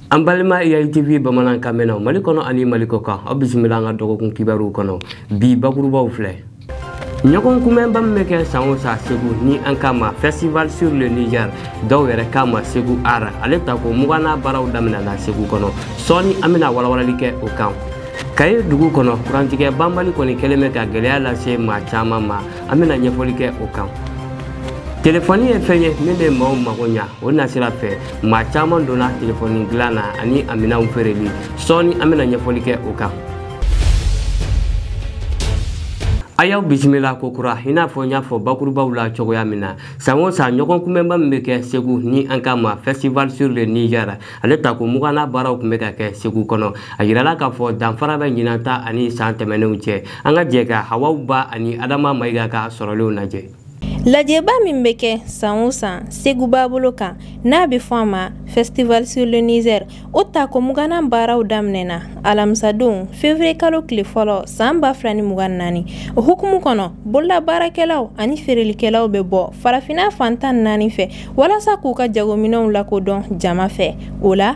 an balima eyayi tv bamanankan mɛnnaw mali kɔnɔ ani mali kɔ kan aw bisimila an ka dɔgɔkun kibaruw kɔnɔ bi bakurubaw filɛ ɲɔgɔn kunbɛnba min bɛ kɛ san o san segu ni an k'a ma festival sur le niger dɔw yɛrɛ k'a ma segu art ale tako mugannan baaraw daminɛna segu kɔnɔ sɔɔni an bɛna walawalali kɛ o kan kayi dugu kɔnɔ kurantigɛ banbali kɔni kɛlen bɛ ka gɛlɛya lase maa caman ma an bɛna ɲɛfɔli kɛ o kan telefɔni ye fɛn ye min bɛ maaw mago ɲa o nasira fɛ maa caman donna telefɔni dilan na ani a minɛnw feereli sɔɔni an bɛna ɲɛfɔli kɛ o kan a y'aw bisimila kokura i n'a fɔ n y'a fɔ bakurubaw la cogoya min na san o san ɲɔgɔn kunbɛnba min bɛ kɛ segu ni an k'a ma festival sur le niger ale tako mugannan baaraw tun bɛ ka kɛ segu kɔnɔ a yirala k'a fɔ danfara bɛ ɲinan ta ani san tɛmɛnenw cɛ an ka jɛ ka hawa ba ani adama mayiga ka sɔrɔlenw lajɛ Lajɛba min bɛ kɛ san o san segu babolo kan n'a bɛ fɔ a ma festival sur le Niger o tako mugannan baaraw daminɛna alamisadon fevrier kalo tile fɔlɔ san 2024 o hukumu kɔnɔ bololabaarakɛlaw ani feerelikɛlaw bɛ bɔ farafinna fan tan ni naani fɛ walasa k'u ka jagominɛnw lakodɔn jama fɛ o la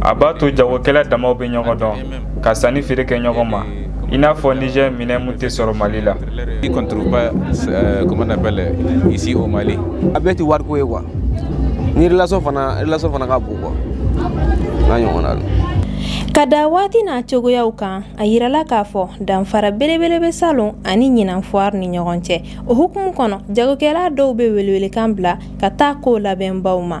a b'a to jagokɛla damaw bɛ ɲɔgɔn dɔn ka sanni feere kɛ ɲɔgɔn ma i n'a fɔ nizɛr minɛn min tɛ sɔrɔ mali la a bɛɛ tɛ wariko ye quoi ni relation fana relation fana ka bon quoi n'a ɲɔgɔnna don ka da waati n'a cogoyaw kan a yirala k'a fɔ danfara belebele bɛ salon ani ɲinan foire ni ɲɔgɔn cɛ o hukumu kɔnɔ jagokɛla dɔw bɛ welewelekan bila ka taa kow labɛnbaw ma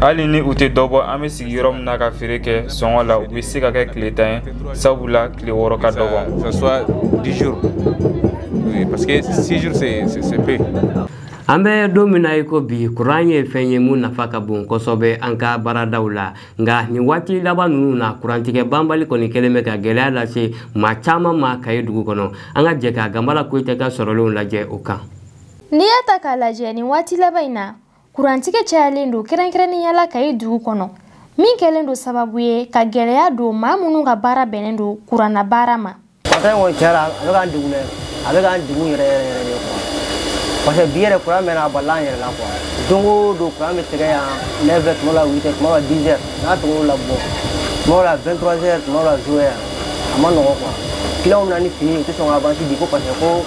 Hali ni u tɛ dɔbɔ an bɛ sigi yɔrɔ min na ka feere kɛ sɔngɔ la u bɛ se k'a kɛ tile tan ye sabu la tile wɔɔrɔ ka dɔgɔ An bɛ don min na i ko bi kuran ye fɛn ye min nafa ka bon kosɛbɛ an ka baaradaw la nka nin waati laban ninnu na kurantigɛ banbali kɔni kɛlen bɛ ka gɛlɛya lase maa caman ma kayi dugu kɔnɔ an ka jɛ ka ganbala koyita ka sɔrɔlenw lajɛ o kan N'i y'a ta k'a lajɛ nin waati laban in na kurantigɛ cayalen don kɛrɛnkɛrɛnnenya la Kayi dugu kɔnɔ min kɛlen don sababu ye ka gɛlɛya don maa minnu ka baara bɛnnen don kuranna baara ma. Fɛn kɔni cɛla a bɛ k'an degun dɛ a bɛ k'an degun yɛrɛ yɛrɛ yɛrɛ de quoi parce que bi yɛrɛ kuran mɛnna a balila an yɛrɛ la quoi don o don kuran bɛ tigɛ yan 9 heures tuma la 8 heures tuma la 10 heures n'a tɔgɔ o la bɔ tuma la 23 heures tuma la 0 heures a ma nɔgɔ quoi clients bɛ na ni fini ye u tɛ sɔn ka avance di ko parce que ko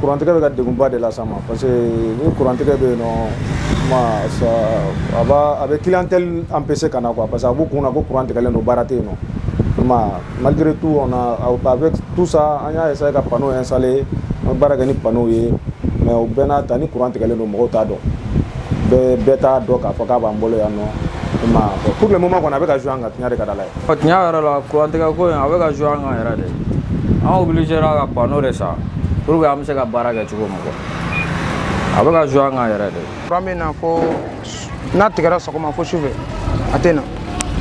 kurantigɛ bɛ ka degunba de las'an ma parce que ni kurantigɛ bɛ yen nɔ kuma a b'a a bɛ clientèle empêcher ka na quoi parce que a b'u kun na ko kuran tigɛlen don baara tɛ yen nɔ kuma malgré tout on a avec tout ça an y'a essayer ka panneau installer an bɛ baara kɛ ni panneau ye mais o bɛɛ n'a ta ni kuran tigɛlen don mɔgɔw t'a dɔn bɛɛ bɛɛ t'a dɔn k'a fɔ k'a b'an bolo yan nɔ i m'a ye pour le moment kɔni a bɛ ka jouer an kan tiɲɛ de ka di Ala ye Ɔ, Tiɲɛ yɛrɛ la kurantigɛ ko in a bɛ ka jouer an kan yɛrɛ de an obligera ka panneau de san pour que an bɛ se ka baara kɛ cogo min quoi a bɛ ka jouer an kan yɛrɛ de kuran bɛ na fo n'a tigɛra sɔgɔma fo sufɛ a tɛ na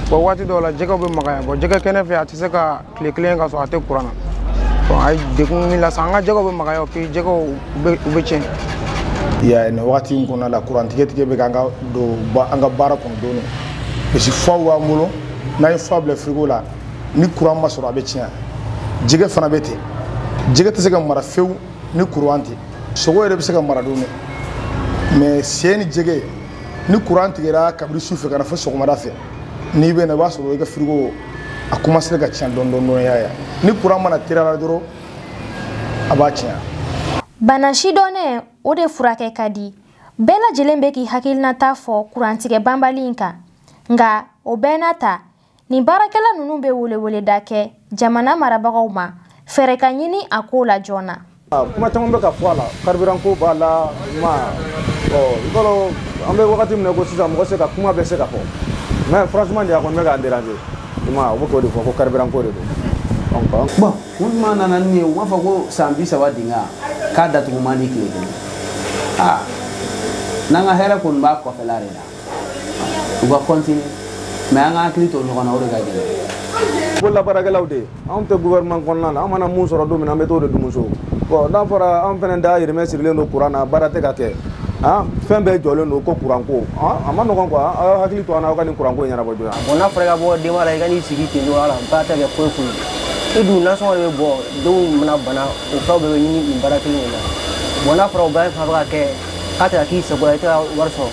bɔn waati dɔw la jɛgɛw bɛ magaya bɔn jɛgɛ kɛnɛ fɛ a tɛ se ka tile kelen kɛ k'a sɔrɔ a tɛ kuran na bɔn a ye degun min lase an ka jɛgɛw bɛ magaya puis jɛgɛw u bɛ u bɛ tiɲɛ ya nin wagati in kɔnɔna la kurantigɛtigɛ bɛ k'an ka don ba- an ka baara kɔnɔ dɔɔni parce que faw b'an bolo n'a ye fa bila firigo la ni kuran ma sɔrɔ a bɛ tiɲɛ jɛgɛ fana bɛ ten jɛgɛ tɛ se ka mara fewu ni kuran tɛ sogo yɛrɛ bɛ se ka mara dɔɔni dɛ mɛ sɛ ni jɛgɛ ni kuran tigɛra kabini su fɛ ka na fo sɔgɔmada fɛ n'i bɛ na i b'a sɔrɔ i ka firigo a commencé ka tiɲɛ dɔɔni dɔɔni y'a ye ni kuran ma na tile la dɔrɔn a b'a tiɲɛ bana sidɔnnen o de furakɛ ka di bɛɛ lajɛlen bɛ k'i hakilinata fɔ kurantigɛ banbali in kan nka o bɛɛ n'a ta nin baarakɛla ninnu bɛ weleweleda kɛ jamana marabagaw ma fɛɛrɛ ka ɲini a ko la joona kuma caman bɛ ka fɔ a la karibiranko b'a la ma ɔ i b'a dɔn an bɛ wagati min na ko sisan mɔgɔ se ka kuma bɛ se ka fɔ mɛ franchement de a kɔni bɛ k'an déranger i ma u bɛ k'o de fɔ ko karibiranko de don bɔn u tuma nana ni ye u b'a fɔ ko san bi saba dinga k'a datugu man di tile kelen aa n'an ka hɛrɛ kɔni b'a kɔfɛla de la u ka kɔntini mɛ an ka hakili to ɲɔgɔn na o de ka gɛlɛn bololabaarakɛlaw de anw tɛ gouvernement kɔnɔna na an mana mun sɔrɔ don min na an bɛ t'o de dun so bɔn n'a fɔra an fana dahirimɛ sirilen don kuran na baara tɛ ka kɛ fɛn bɛɛ jɔlen don ko kuranko a ma nɔgɔn quoi aw hakili to an na aw ka nin kuranko in ɲɛnabɔ joona bɔn n'a fɔra i ka bɔ denba la i ka n'i sigi ten dɔrɔn ala baara tɛ kɛ foyi foyi i dun nasɔngɔ de bɛ bɔ denw mana bana o fɛnw bɛɛ bɛ ɲini nin baara kelen in na bɔn n'a fɔra o bɛɛ fana bɛ ka kɛ k'a tɛ ka k'i sago la i tɛ ka wari sɔrɔ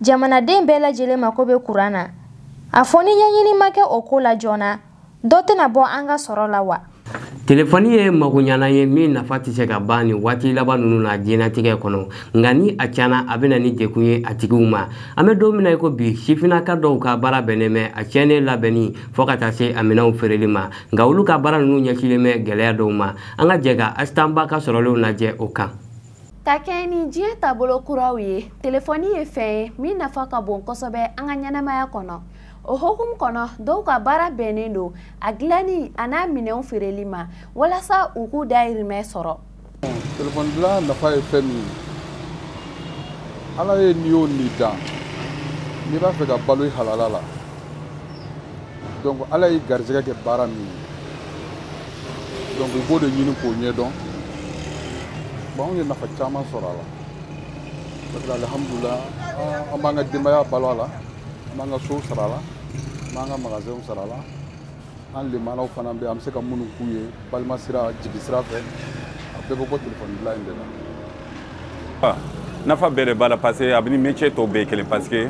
jamanaden bɛɛ lajɛlen mako bɛ kuran na a fɔ ni ɲɛɲini ma kɛ o ko la joona dɔ tɛna bɔ an ka sɔrɔ la wa telefɔni ye magoɲɛlan ye min nafa tɛ se ka ban nin waati laban ninnu na diɲɛnatigɛ kɔnɔ nka ni a cana a bɛ na ni degun ye a tigiw ma an bɛ don min na i ko bi sifinnaka dɔw ka baara bɛnnen bɛ a tiɲɛnen labɛnni fo ka taa se a minɛnw feereli ma nka olu ka baara ninnu ɲɛsilen bɛ gɛlɛya dɔw ma an ka jɛ ka Asitan Ba ka sɔrɔlenw lajɛ o kan Ka kɛɲɛ ni diɲɛ taabolo kuraw ye telefɔni ye fɛn ye min nafa ka bon kosɛbɛ an ka ɲɛnamaya kɔnɔ o hukumu kɔnɔ dɔw ka baara bɛnnen don a dilanni an'a minɛnw feereli ma walasa u k'u dayirimɛ sɔrɔ telefɔni dilan nafa ye fɛn min ye ala ye ni o ni dan n'i b'a fɛ ka balo i halala la donc ala ye garisɛgɛ kɛ baara min ye donc i b'o de ɲini k'o ɲɛdɔn bon anw ye nafa caman sɔrɔ a la parce que alihamudulila an b'an ka denbaya balo a la an b'an ka sow sara a la an b'an ka magasinw sara a la an lemanaw fana bɛ an bɛ se ka minnu k'u ye balimasira jigisira fɛ a bɛɛ bɛ bɔ telefɔni dilan in de la ah, nafa bɛɛ de b'a la parce que a bɛ ni métier tɔw bɛɛ kelen parce que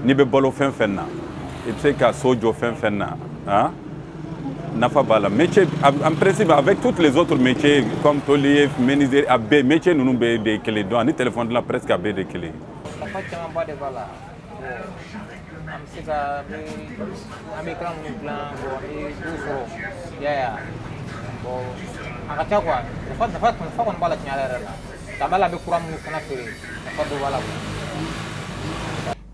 n'i bɛ balo fɛn fɛn na i bɛ se ka so jɔ fɛn fɛn na ah, nafa b'a la métier en principe avec toutes les autres métiers comme tôlier menuisier a bɛɛ métier ninnu bɛɛ de kelen donc ani téléphone dilan presque a bɛɛ de kelen nafa camanba de b'a la an bɛ se ka an bɛ kalan minnu dilan bɔn an bɛ dɔ sɔrɔ i y'a ye wa bɔn a ka ca kuwa nafa nafa nafa kɔni b'a la tiɲɛ yɛrɛ la ka b'a la an bɛ kura minnu fana feere nafa dɔ b'a la kuwa.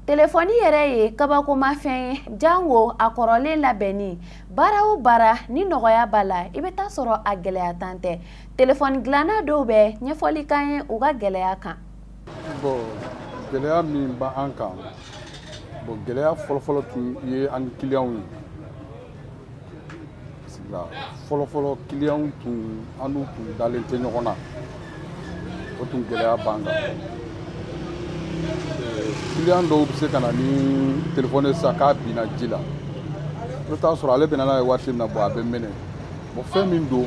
telefɔni yɛrɛ ye kabakomafɛn ye jango a kɔrɔlen labɛnni baara o baara ni nɔgɔya b'a la i bɛ taa sɔrɔ a gɛlɛya tan tɛ telefɔni dilanna dɔw bɛ ɲɛfɔli k'an ye u ka gɛlɛya kan bɔn gɛlɛya min b'an kan bɔn gɛlɛya fɔlɔfɔlɔ tun ye an ni kiliyanw ye an sigila fɔlɔfɔlɔ kiliyanw tun an n'u tun dalen tɛ ɲɔgɔn na o tun gɛlɛya b'an kan kiliyan dɔw bɛ se ka na ni telefɔni sa k'a binna ji la i bɛ taa sɔrɔ ale bɛna n'a ye waati min na bɔn a bɛ mɛnɛ bɔn fɛn min don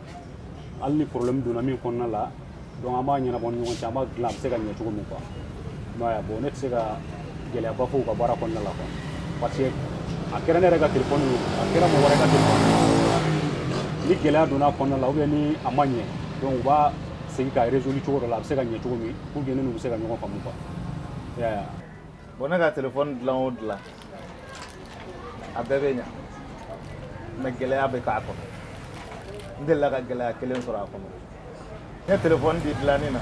hali ni problème donna min kɔnɔna la donc an b'a ɲɛnabɔ an ni ɲɔgɔn cɛ an b'a dilan a bɛ se ka ɲɛ cogo min quoi m'a ye bon ne tɛ se ka gɛlɛyaba fɔ u ka baara kɔnɔna la quoi parce que a kɛra ne yɛrɛ ka telefɔni ye a kɛra mɔgɔ wɛrɛ ka telefɔni ye ni gɛlɛya donna a kɔnɔna la ou bien ni a ma ɲɛ donc u b'a segin k'a résoudre cogo dɔ la a bɛ se ka ɲɛ cogo min pour que ne n'u bɛ se ka ɲɔgɔn faamu quoi i y'a ye bɔn ne ka telefɔni dilan o dilan a bɛɛ bɛ ɲa mais gɛlɛya bɛ k'a kɔnɔ n delila ka gɛlɛya kelen sɔrɔ a kɔnɔ n ye telefɔni di dilanni na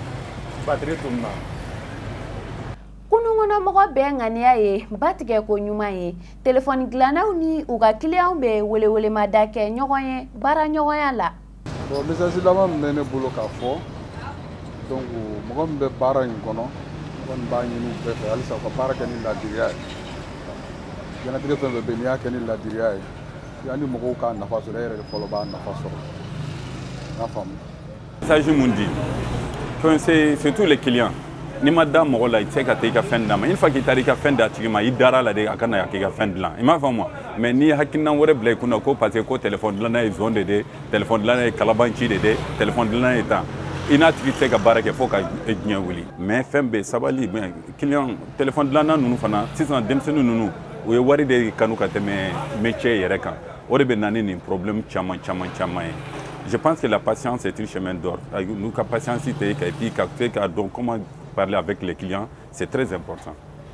batiri tununa a kɔnɔ mɔgɔ bɛɛ ŋaniya ye batigɛ ko ɲuman ye telefɔni dilannaw ni u ka kiliyanw bɛ welewelemada kɛ ɲɔgɔn ye baaraɲɔgɔnya la bon message laban min bɛ ne bolo k'a fɔ donc mɔgɔ min bɛ baara in kɔnɔ ne kɔni b'a ɲini u bɛɛ fɛ halisa u ka baara kɛ ni laadiriya ye diɲɛnatigɛ fɛn o fɛn bɛ yen n'i y'a kɛ ni laadiriya ye yanni mɔgɔw k'a nafa sɔrɔ e yɛrɛ de fɔlɔ b'a nafa sɔrɔ n y'a faamu message mun di fɛn c'est surtout les clients n'i ma da mɔgɔ la i tɛ se ka taa i ka fɛn d'a ma une fois k'i taara i ka fɛn d'a tigi ma i dara a la de a ka na k'i ka fɛn dilan i m'a faamu wa mais n'i ye hakilinan wɛrɛ bila i kunna ko parce que ko telefɔni dilanna ye zon de ye telefɔni dilanna ye kalabanci de ye telefɔni dilanna ye tan i n'a tigi tɛ se ka baara kɛ fo ka diɲɛ wuli mais fɛn bɛɛ sabali kiliyan telefɔni dilanna ninnu fana sisan denmisɛnnin ninnu u ye wari de kanu ka tɛmɛ métier yɛrɛ kan o de bɛ na ni nin problème caman caman caman ye je pense que la patience est un chemin d'or n'u ka patienter ka et puis ka se k'a dɔn comment parler avec les clients c'est très important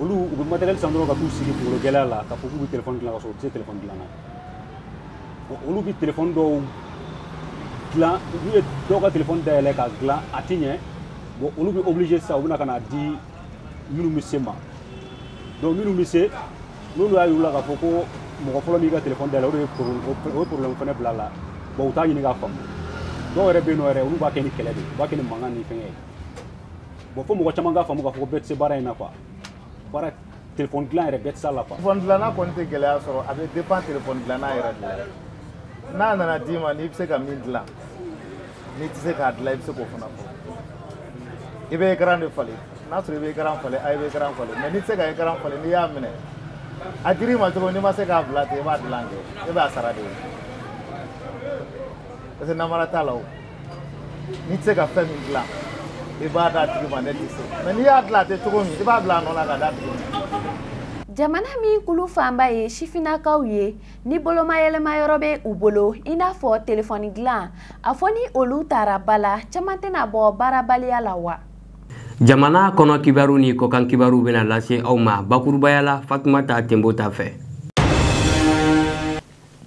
olu u bɛ matériel san dɔrɔn ka t'u sigi kunkolo gɛlɛya la k'a fɔ k'u bɛ telefɔni dilan ka sɔrɔ u tɛ se telefɔni dilan na olu bɛ telefɔni dɔw dilan n'u ye dɔw ka telefɔni dayɛlɛ k'a dilan a tɛ ɲɛ bon olu bɛ obligé sisan u bɛna ka n'a di minnu bɛ se ma donc minnu bɛ se n'olu y'a yir'u la k'a fɔ ko mɔgɔ fɔlɔ min ka telefɔni dayɛlɛ o de ye o ye problème fana bila a la bon u t'a ɲini k'a faamu dɔw yɛrɛ bɛ yen nɔ yɛrɛ olu b'a kɛ ni kɛlɛ de ye u b'a kɛ ni mankan ni fɛnkɛ ye bon fo mɔgɔ caman k'a faamu k'a fɔ ko bɛɛ tɛ se baara in na quoi baara telefɔni dilan yɛrɛ bɛɛ tɛ se a la quoi telefɔni dilanna kɔni tɛ gɛlɛya sɔrɔ a bɛ dépend telefɔni dilanna yɛrɛ de la n'a nana d'i ma n'i bɛ se ka min dilan n'i tɛ se k'a dilan i bɛ se k'o fana fɔ i bɛ ekaran de falen n'a sɔrɔ i bɛ ekaran falen a i bɛ ekaran falen mais n'i tɛ se ka ekaran falen n'i y'a minɛ a dir'i ma cogo n'i ma se k'a bila ten i b'a dilan kɛ e b'a sara de ye parce que namara t'a la o n'i tɛ se ka fɛn min dilan i b'a d'a tigi ma ne tɛ se mais n'i y'a dilan a tɛ cogo min i b'a bila a nɔ la ka d'a tigi ma jamana min kulu fanba ye sifinnakaw ye ni bolomayɛlɛma yɔrɔ bɛ u bolo i n'a fɔ telefɔni dilan a fɔ ni olu taara ba la caman tɛna bɔ baarabaliya la wa jamana kɔnɔ kibaru ni kɔkan kibaru bɛna lase aw ma bakurubaya la fatumata tenbo ta fɛ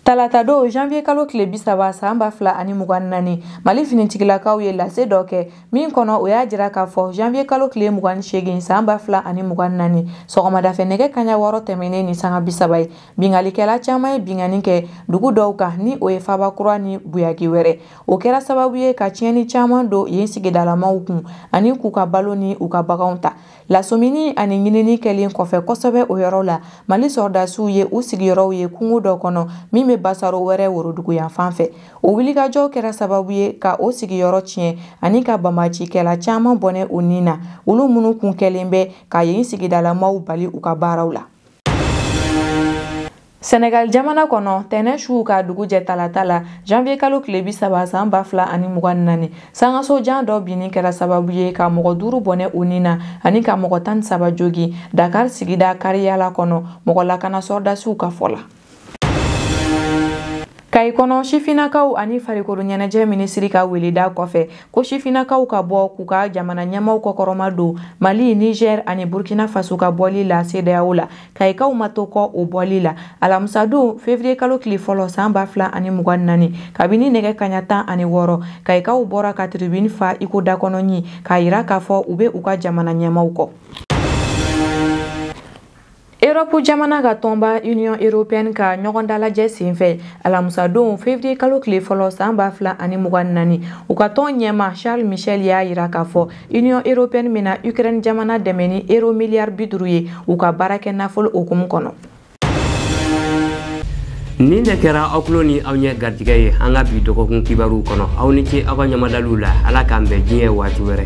talatadon janvier kalo tile bi saba san ba fila ani mugan ni naani mali finitigilakaw ye lase dɔ kɛ min kɔnɔ o y'a jira k'a fɔ janvier kalo tile mugan ni segin san ba fila ani mugan ni naani sɔgɔmadafɛ nɛgɛ kanɲɛ wɔɔrɔ tɛmɛnen ni sanga bi saba ye binkannikɛla caaman ye binkanni kɛ dugu dɔw kan ni o ye faba kura ni buyagi wɛrɛ o kɛra sababu ye ka tiɲɛni caaman don yen sigidalamaw kun ani k'u ka balo ni u ka baganw ta lasɔmini ani ɲinini kɛlen kɔfɛ kosɛbɛ o yɔrɔ la mali sɔrɔdasiw ye u sigiyɔrɔw ye kungo dɔ kɔnɔ min bɛ basaro wɛrɛ woroduguyanfan fɛ o wulikajɔ kɛra sababu ye ka o sigiyɔrɔ tiɲɛ ani ka banbaancikɛla caman bɔnɛ u ni na olu minnu kun kɛlen bɛ ka yen sigidalamaw bali u ka baaraw la Senegal jamana kɔnɔ tɛnɛ su k'a dugu jɛ talata la janvier kalo tile bi saba san ba fila ani mugan ni naani sankanso jan dɔ binni kɛra sababu ye ka mɔgɔ duuru bɔnɛ u ni na ani ka mɔgɔ tan ni saba jogin dakar sigida kariyala kɔnɔ mɔgɔ lakana sɔrɔdasiw ka fɔ la kayi kɔnɔ sifinakaw ani farikolo ɲɛnajɛ minisiri ka weleda kɔfɛ ko sifinakaw ka bɔ k'u ka jamana ɲɛmaaw kɔkɔrɔmadon mali niger ani burkina faso ka bɔli la sedeyawo la kayikaw ma to kɔ o bɔli la alamisadon fevriye kalo tile fɔlɔ san ba fila ani mugan naani kabini nɛgɛ kanɲɛ tan ani wɔɔrɔ kayikaw bɔra ka tiribini fa i ko dakɔnɔɲin k'a yira k'a fɔ u bɛ u ka jamana ɲɛmaaw kɔ erɔpu jamana ka tɔnba union européenne ka ɲɔgɔndalajɛ senfɛ alamusadon fevriye kalo tile fɔlɔ san ba fila ani mugan naani u ka tɔn ɲɛmaa charles michel y'a yira k'a fɔ Union européenne bɛna Ukraine jamana dɛmɛ ni euro miliyari bi duuru ye u ka baara kɛ nafolo hukumu kɔnɔ. nin de kɛra aw tulo ni aw ɲɛ garijɛgɛ ye an ka bi dɔgɔkun kibaruw kɔnɔ aw ni ce aw ka ɲamadaliw la ala k'an bɛn diɲɛ waati wɛrɛ